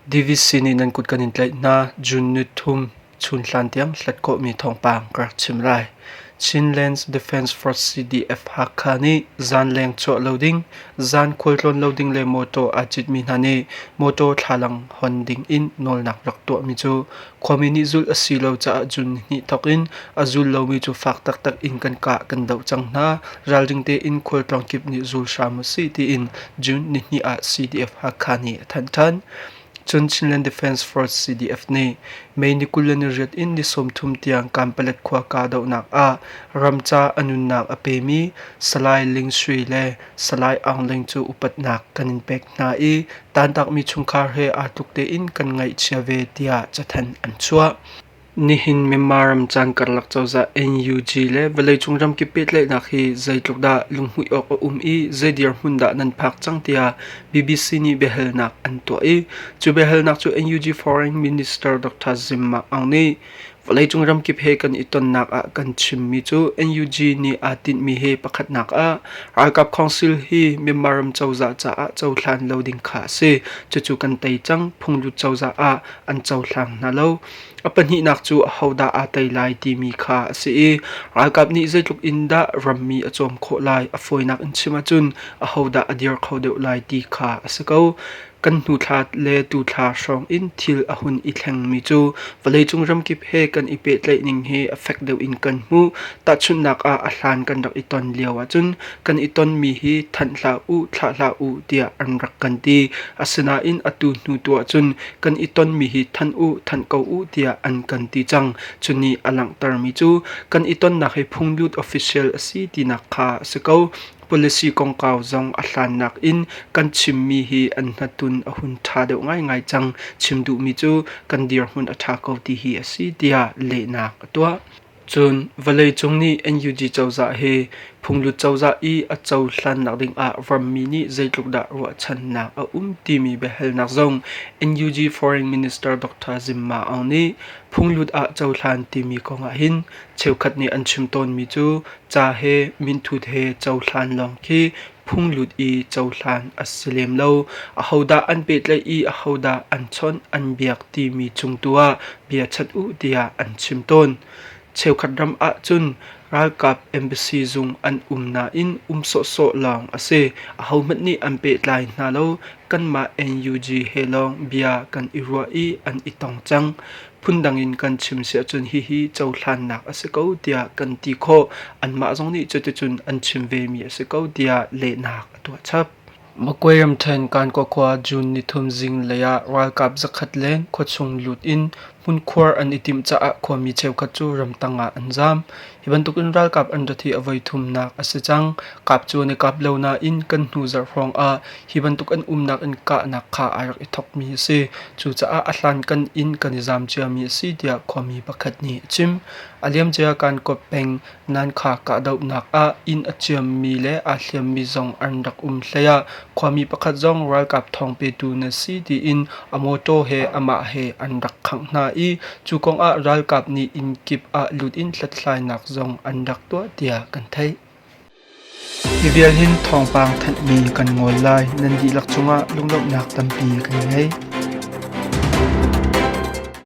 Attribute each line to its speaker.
Speaker 1: Davis sin in an kut kan in tlaih hna. June ni thum, chun hlan tiang hlatkawhmi thawngpang ka rak chim lai. Chinlands Defence Force CDF Hakha nih zanleng chuah lo ding, zan khualtlawn lo ding le mawtaw aa citmi hna nih mawtaw thlalang hon ding in nawlnak rak tuahmi cu Khuami nih zulh a si lo caah June hnih thawk in a zul lomi cu fak taktak in kan kah kan doh cang hna. Ralring tein khualtlawng kip nih zul hram u sih tiin June nihnih ah CDF-Hakha nih a thanh ṭhan. Cun Chinland Defence Force CDF nih May ni kul le ni riat in ni sawmthum tiang Kanpalet khua kahdohnak ah ram ca a nunnak a pemi Salai Ling Shui le Salai Aung Leng cu upatnak kan in pek hna i tantakmi chungkhar he aa tluk tein kan ngaihchia ve tiah cathanh an chuah. Nihin Myanmar ram caan karlak cozah NUG le vawleicung ramkip pehtlaihnak hi zeitluk dah lunghmuih awk a um i zei dirhmun dah nan phak cang tiah BBC nih biahalnak an tuah i cu biahalnak cu NUG Foreign Minister Dr. Zim Mak Aung nih Vawleicung ramkip he kan i tonnak ah kan chimmi cu NUG nih aa tinhmi he pakhatnak ah ralkap council hi Myanmar ram cozah caah cohlan lo ding kha a si. Cucu kan tei cang. Phunglut cozah ah an cohlang hna lo. A pahnihnak cu ahodah aa tei lai timi kha a si i ralkap nih zeitluk in dah rammi a cawm khawh lai a fawinak in chim ahcun ahodah a dir kho deuh lai ti kha a si ko. Kan hnuthla le tuthla hrawng in thil a hun i thlengmi cu vawleicung ramkip he kan i pehtlaih ning hi a fek deuh in kan hmuh. Tahchunhnak ah a hlan kan rak i ton lio ahcun kan i tonmi hi thanh hlah u, thlah hlah u tiah an rak kan ti. Asinain atu hnu tu ahcun kan i tonmi hi thanh u, thanh ko u tiah an kan ti cang. Cuni a langhtermi cu kan i tonnak hi phunglut official a si tinak kha a si ko. Policy kongkau zong a hlannak in kan chimmi hi an hnatun a hun ṭha deuh ngaingai cang. Chim duhmi cu kan dirhmun a ṭha ko ti hi a si tiah lehnak a tuah. Cun vawleicung nih NUG cozah he phunglut cozah i a cohlannak ding ah rammi nih zeitluk dah ruahchannak a um timi biahalnak zong NUG Foreign Minister Dr. Zim Ma Aung nih phunglut ah cohlan timi kong ah hin cheukhat nih an chim tawnmi cu Ca he minthut he cohlan lawng khi phunglut i cohlan a si lem lo. Ahodah an pehtlaih i ahodah an chawnh an biak timi cung tu ah bia chhat u tiah an chim tawn. Cheukhat ram ah cun ralkap embassy zung an um nain um sawhsawh lawng a si. Ahohmanh nih an pehtlai hna lo. Kanmah NUG he lawng bia kan i ruah i an i tong cang. phundang in kan chim si ahcun hihi cohlannak a si ko tiah kan ti khawh. Anmah zong nih cuticun an chim vemi a si ko tiah lehnak a tuah chap. Magway ramṭhen Kankokwa June nithum zinglei ah ralkap zakhat le khuachung lut in hmunkhuar an i timh caah khuami cheukhat cu ramtang ah an zaam. Hi bantuk in ralkap an rat hi a voi thumnak a si cang. Kap cu an i kap lo nain kan hnu zarh hrawng ah hi bantuk an umnak in kahnak kha ai rak i thokmi a si. Cucaah a hlankan in kan i zam ciami a si tiah khuami pakhat nih a chim. A liamcia Kankaw peng Nankha kahdohnak ah inn a ciammi le aa hliammi zong an rak um hlei ah Khuami pakhat zong ralkap thawng petu na si tiin a mawtaw he amah he an rak khangh hna i cu kong ah ralkap nih inn kip ah lut in hlathlainak zong an rak tuah tiah kan theih. Hi vial hin thawngpang thanhmi kan ngol lai nan dihlak cungah lunglawmhnak tampi kan ngei.